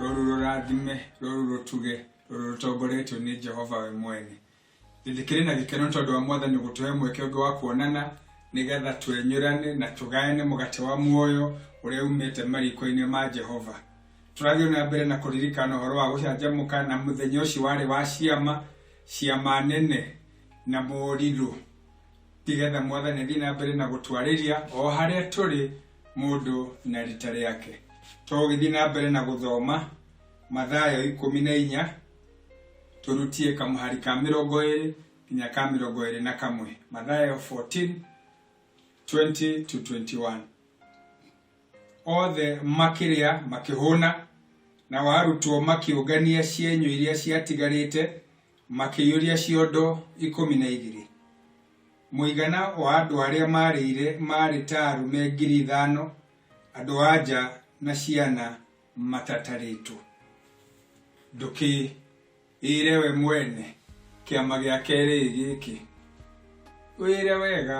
rũrũ rũrathime rũrũ rũtuge rũrũ rũtongoretio nĩ jehova we mwene ndĩkĩrĩ na gĩkeno nĩ tondũ wa mwathani gũtũhe mweke ũngĩ wa kuonana nĩgetha twenyũrane na tũgayane mũgate wa muoyo ũrĩa umĩte mariko-inĩ ma jehova tũrathiĩ na mbere na kũririkana ũhoro wa gũcanjamũka na mũthenya ũcio warĩ wa ciama ciama nene na morirũ nĩgetha mwathani athiĩ na mbere na gũtwarĩria o harĩa tũrĩ mũndũ na rita rĩake togĩthiĩ na mbere na gũthoma mathayo ikũmi na inya tũrutie kamũhari ka mĩrongo ĩrĩ nginya ka mĩrongo ĩrĩ na kamwe mathayo 14 20 to 21 othe makĩrĩa makĩhũna na warutwo makĩũngania cienyũ iria ciatigarĩte makĩiyũria ciondo ikũmi na igĩrĩ Mũigana wa andũ arĩa maarĩire maarĩ ta arũme ngiri ithano, andũ-a-nja na ciana matatarĩtwo. Ndũkĩĩre we mwene, Kĩama gĩa kerĩ ĩ gĩkĩ. Wĩre wega,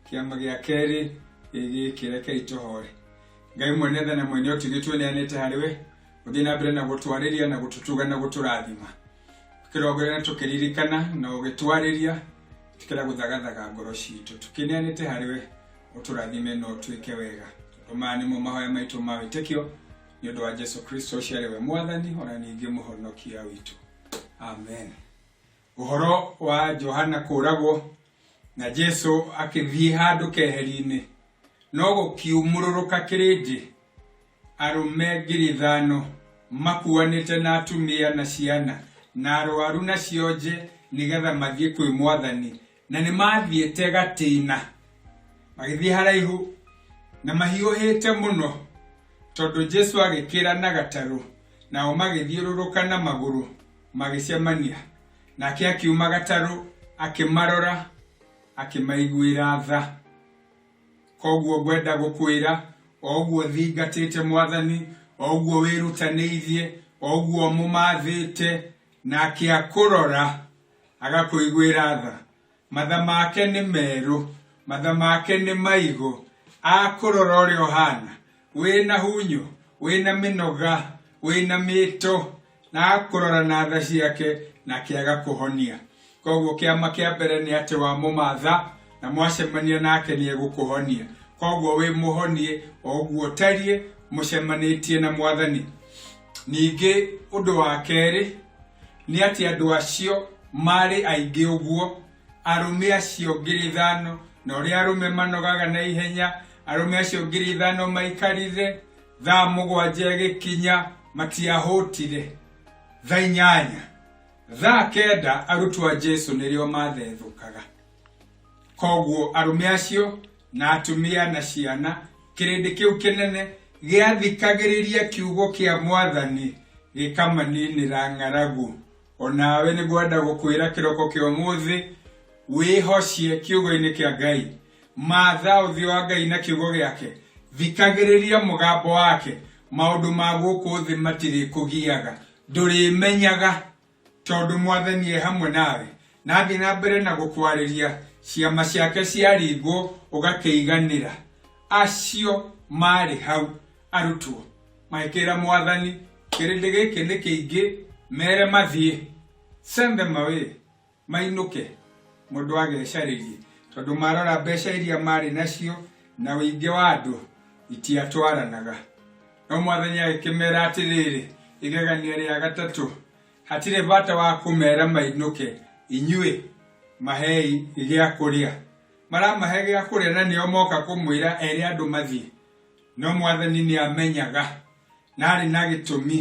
Kĩama gĩa kerĩ ĩ gĩkĩ, rekei tũhoe. Ngai mwene tha na mwene ũtugi twĩneanĩte harĩ we, ũthiĩ na mbere na gũtwarĩria na gũtũtuga na gũtũrathima. tũkĩrongerera tũkĩririkana na ũgĩtwarĩria tũkĩra gũthagathaga ngoro citũ tũkĩneanĩte harĩ we ũtũrathime na ũtwĩke wega tondũ maya nĩmo mahoya maitũ ma wĩtĩkio nĩ ũndũ wa jesu kristo ũcio arĩ we mwathani ona ningĩ mũhonokia witũ amen ũhoro wa johana kũũragwo na jesu akĩthiĩ handũ keheri-inĩ no gũkiumũrũrũka kĩrĩndĩ Arũme ngiri ithano makuanĩte na atumia na ciana na arwaru na cionje nĩgetha mathiĩ kwĩ mwathani, na nĩ mathiĩte gatĩna magĩthiĩ haraihu na mahiũhĩte mũno, tondũ Jesu agĩkĩra na gatarũ, nao magĩthiũrũrũka na magũrũ magĩcemania nake akiuma gatarũ akĩmarora akĩmaiguĩra tha. Koguo ngwenda gũkwĩra, o ũguo ũthingatĩte Mwathani, o ũguo wĩrutanĩirie, o ũguo ũmũmathĩte, nake akũrora, agakũiguĩra tha. Matha make nĩ merũ, matha make nĩ maigũ, akũrora ũrĩa ũhana, wĩna hunyu, wĩna mĩnoga, wĩna mĩto. na akũrora na tha ciake na akĩaga kũhonia. Koguo kĩama kĩa mbere nĩ atĩ wa mũmatha na mwacemania nake nĩ egũkũhonia. Koguo wĩ mũhonie o ũguo ũtariĩ mũcemanĩtie na mwathani. Ningĩ ũndũ wa kerĩ nĩ atĩ andũ acio marĩ aingĩ ũguo, arũme acio ngiri ithano, na ũrĩa arũme manogaga na ihenya, arũme acio ngiri ithano maikarithe thaa mũgwanja ĩgĩkinya matiahũtire thaa inyanya thaa kenda arutwo a jesu nĩrĩo mathethũkaga koguo arũme acio na atumia na ciana kĩrĩndĩ kĩu kĩnene gĩathikagĩrĩria kiugo kĩa mwathani gĩkamaninĩra ng'aragu onawe nĩgwenda gũkwĩra kĩroko kĩa ũmũthĩ wĩhocie kiugo-inĩ kĩa ngai Maatha ũthiũ wa Ngai na kiugo gĩake, thikagĩrĩria mũgambo wake, maũndũ ma gũkũ thĩ matirĩkũgiaga, ndũrĩmenyaga, tondũ Mwathani e hamwe nawe, na athiĩ na mbere na gũkwarĩria, ciama ciake ciaringwo ũgakĩiganĩra. Acio maarĩ hau, arutwo, magĩkĩĩra Mwathani, Kĩrĩndĩ gĩkĩ nĩ kĩingĩ, meere mathiĩ. Send them away. Mainũke, mũndũ agecarĩrie, tondũ marora mbeca iria marĩ nacio na ũingĩ wa andũ itiatwaranaga. No mwathani agĩkĩmera atĩrĩrĩ, igegania rĩa gatatũ, hatirĩ bata wa kũmera mainũke, inyuĩ mahei gĩa kũrĩa. Maramahe gĩa kũrĩa na nĩo moka kũmwĩra ere andũ mathiĩ. No mwathani nĩamenyaga na arĩ na gĩtũmi,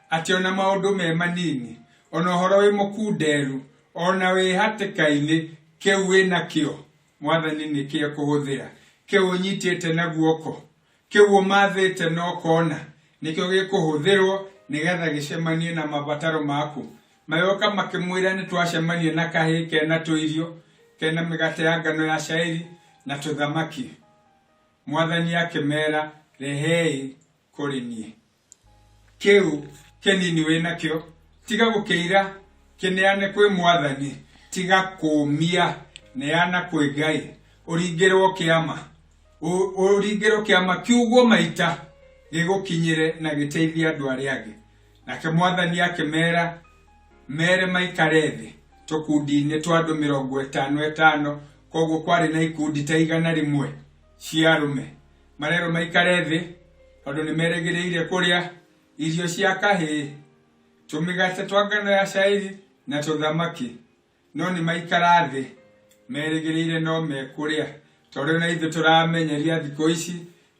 Atĩ ona maũndũ me manini, ona ũhoro wĩ mũkunderu, ona wĩ hatĩka-inĩ, kĩu wĩ nakĩo, Mwathani nĩkĩo ekũhũthĩra. Kĩu ũnyitĩte na guoko, kĩu ũmathĩte na ũkona, nĩkĩo gĩkũhũthĩrwo nĩgetha gĩcemanie na mabataro maku. Magĩũka makĩmwĩra nĩ twacemania na kahĩĩ kena tũirio, kena mĩgate ya ngano ya cairi na tũthamaki. Mwathani akĩmera, Rehei kũrĩ niĩ. kĩu kĩnini wĩ nakĩo tiga gũkĩira kĩneane kwĩ mwathani tiga kũũmia neana kwĩ ngai ũringĩrwo kĩama Ũ- ũringĩrwo kĩama kiugwo maita gĩgũkinyĩre na gĩteithie andũ arĩa angĩ nake mwathani akĩmera mere maikare thĩ tũkundi-inĩ twa andũ mĩrongo ĩtano ĩtano koguo kwarĩ na ikundi ta igana rĩmwe cia arũme marerwo maikare thĩ tondũ nĩ merĩgĩrĩire kũrĩa irio cia kahĩĩ tũmĩgate twa ngano ya cairi na tũthamaki no nĩ maikara thĩ merĩgĩrĩire no mekũrĩa tondũ na ithuĩ tũramenyeria thikũ ici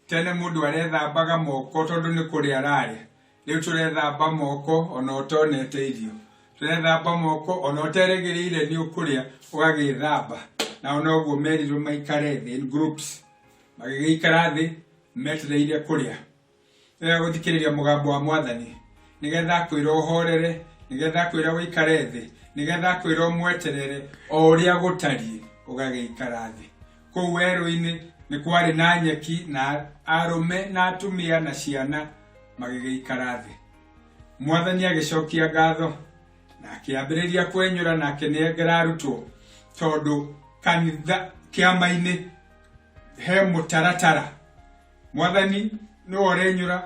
tene mũndũ arethambaga moko tondũ nĩ kũrĩa ararĩa Rĩu tũrethamba moko o na ũtonete irio, tũrethamba moko o na ũterĩgĩrĩire nĩ ũkũrĩa ũgagĩĩthamba. Nao noguo merirwo maikare thĩ in groups. Magĩgĩikara thĩ metereire kũrĩa. Nĩ wega gũthikĩrĩria mũgambo wa Mwathani nĩ getha akwĩra ũhoorere, nĩ getha akwĩra ũikare thĩ, nĩ getha akwĩra ũmweterere o ũrĩa gũtariĩ ũgagĩikara thĩ. Kũu werũ-inĩ nĩ kwarĩ na nyeki na arũme na atumia na ciana magĩgĩikara thĩ. Mwathani agĩcokia ngatho na akĩambĩrĩria kwenyũra na akĩnengera arutwo tondũ kanitha kĩama-inĩ he mũtaratara. Mwathani nĩwe ũrenyũra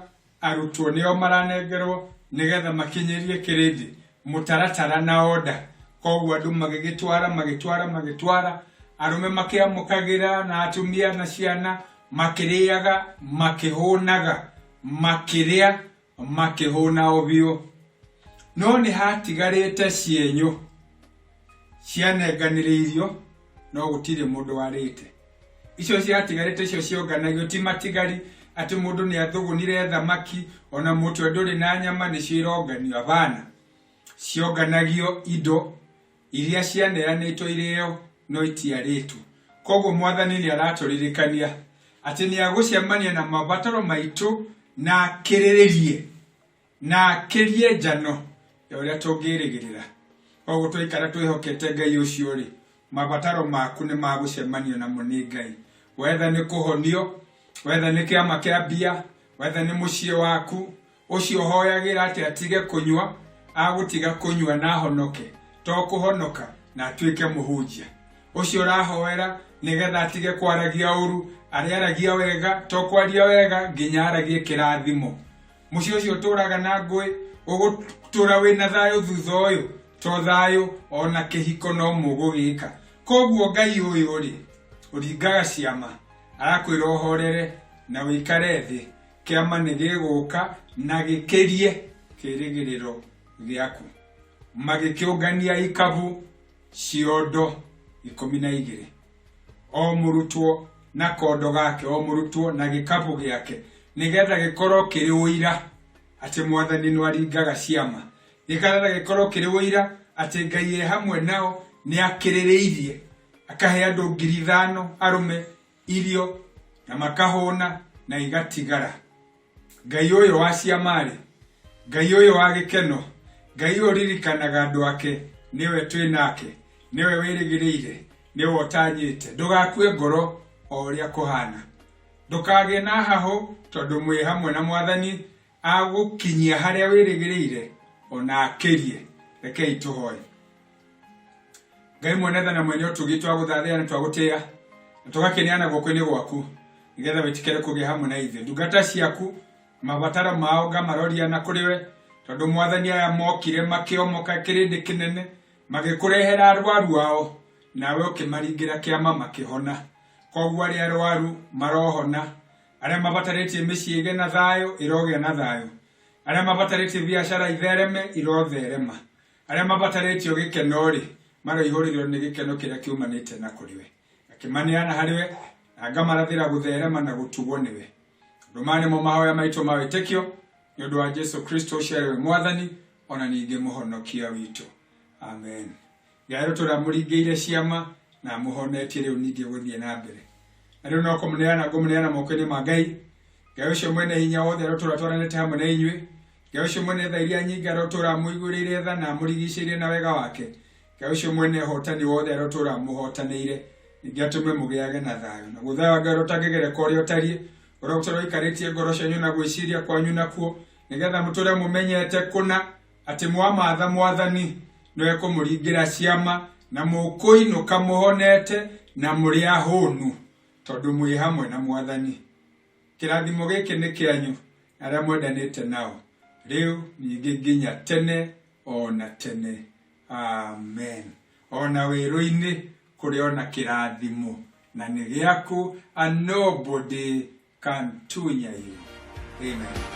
Arutwo nĩo maranengerwo nĩgetha makinyĩrie kĩrĩndĩ mũtaratara na order. Koguo andũ magĩgĩtwara magĩtwara magĩtwara, arũme makĩamũkagĩra na atumia na ciana makĩrĩaga makĩhũnaga, makĩrĩa makĩhũna o biũ. No nĩhatigarĩte cienyũ. cianenganĩrĩirio no gũtirĩ mũndũ warĩte icio ciatigarĩte icio cionganagio ti matigari atĩ mũndũ nĩ athũgũnire thamaki ona mũtwe ndũrĩ na nyama nĩcio ironganio abana cionganagio indo iria cianeanĩtwo irĩo no itiarĩtwo koguo mwathani nĩ aratũririkania atĩ nĩ agũcemania na mabataro maitũ na akĩrĩrĩrie na akĩrie njano ya ũrĩa tũngĩrĩgĩrĩra koguo twaikara twĩhokete ngai ũcio rĩ mabataro maku nĩ magũcemanio namo nĩ ngai wetha nĩ kũhonio wetha nĩ kĩama kĩa mbia wetha nĩ mũciĩ waku ũcio ũhoyagĩra atĩ atige kũnyua agũtiga kũnyua na ahonoke to kũhonoka na atuĩke mũhunjia ũcio ũrahoera nĩgetha atige kwaragia ũru arĩaragia wega to kwaria wega nginya aragie kĩrathimo mũciĩ ũcio ũtũũraga na ngũĩ ũgũtũũra wĩ na thayũ thutha ũyũ to thayũ o na kĩhiko no mũgũgĩka koguo ngai ũyũ rĩ ũringaga ciama arakwĩra ũhorere na wĩikare thĩ kĩama nĩ gĩgũka na gĩkĩrie kĩrĩgĩrĩro gĩaku magĩkĩũngania ikabu ciondo ikũmi na igĩrĩ o mũrutwo na kondo gake o mũrutwo na gĩkabũ gĩake nĩgetha gĩkorwo kĩrĩ ũira atĩ mwathani nĩ aringaga ciama nĩgetha gĩkorwo kĩrĩ ũira atĩ ngai e hamwe nao nĩ akĩrĩrĩirie akahe andũ ngiri ithano arũme irio na makahũna na igatigara Ngai ũyũ wa ciama-rĩ, Ngai ũyũ wa gĩkeno, Ngai ũyũ ũririkanaga andũ ake, nĩwe twĩ nake, nĩwe wĩrĩgĩrĩire, nĩwe ũtanyĩte. Ndũgakue ngoro o ũrĩa kũhana. Ndũkagĩe na hahũ tondũ mwĩ hamwe na Mwathani agũkinyia harĩa wĩrĩgĩrĩire ona akĩrie. Rekei tũhoe. ngai mwene tha na mwene ũtugi twagũthathĩa na twagũtĩa na tũgakĩneana guoko-inĩ gwaku nĩgetha wĩtĩkĩre kũgĩa hamwe na ithuĩ ndungata ciaku mabataro mao ngamaroria na kũrĩ we tondũ mwathani aya mokire makĩomoka kĩrĩndĩ kĩnene magĩkũrehera arwaru ao nawe ũkĩmaringĩra kĩama makĩhona koguo arĩa arwaru marohona arĩa mabatarĩtie mĩciĩ ĩgĩ na thayũ ĩrogĩa na thayũ arĩa mabatarĩtie biacara ithereme irotherema Arĩa mabatarĩtio gĩkeno-rĩ, maroihũrĩrĩrwo nĩ gĩkeno kĩrĩa kĩumanĩte na kũrĩ we. Ngakĩmaneana harĩ we, na ngamarathĩra gũtherema na gũtugwo nĩ we. Ũndũ maya nĩmo mahoya maitũ ma wĩtĩkio, nĩ ũndũ wa Jesu Kristo ũcio arĩ we Mwathani, o na ningĩ Mũhonokia witũ. Amen. Ngai witũ ũramũringĩire ciama na amũhonetie rĩu ningĩ gũthiĩ na mbere. Na rĩu no kũmũneana ngũmũneana moko-inĩ ma Ngai. Ngai ũcio mwene hinya wothe arotũratwaranĩte hamwe na inyuĩ, Ngai ũcio mwene tha iria nyingĩ arotũra amũigũrĩire tha na amũrigicĩire na wega wake Ngai ũcio mwene hotani wothe arotũra amũhotanĩire ningĩ atũme mũgĩage na thayũ na gũthaya wa Ngai ũtangĩgereka ũrĩa ũtariĩ ũrĩa ũtũra ũikarĩtie ngoro cianyu na gwĩciria kwanyu nakuo nĩgetha mũtũre mũmenyete kũna atĩ mwamatha mwathani no ekũmũringĩra ciama na mũkũinũka mũhonete na mũrĩ ahũnu tondũ mwĩ hamwe na mwathani Kĩrathimo gĩkĩ nĩ kĩanyu na arĩa mwendanĩte nao, rĩu ningĩ nginya tene o na tene. Amen. O na werũ-inĩ kũrĩ o na kĩrathimo, na nĩ gĩaku and nobody can tunya you. Amen.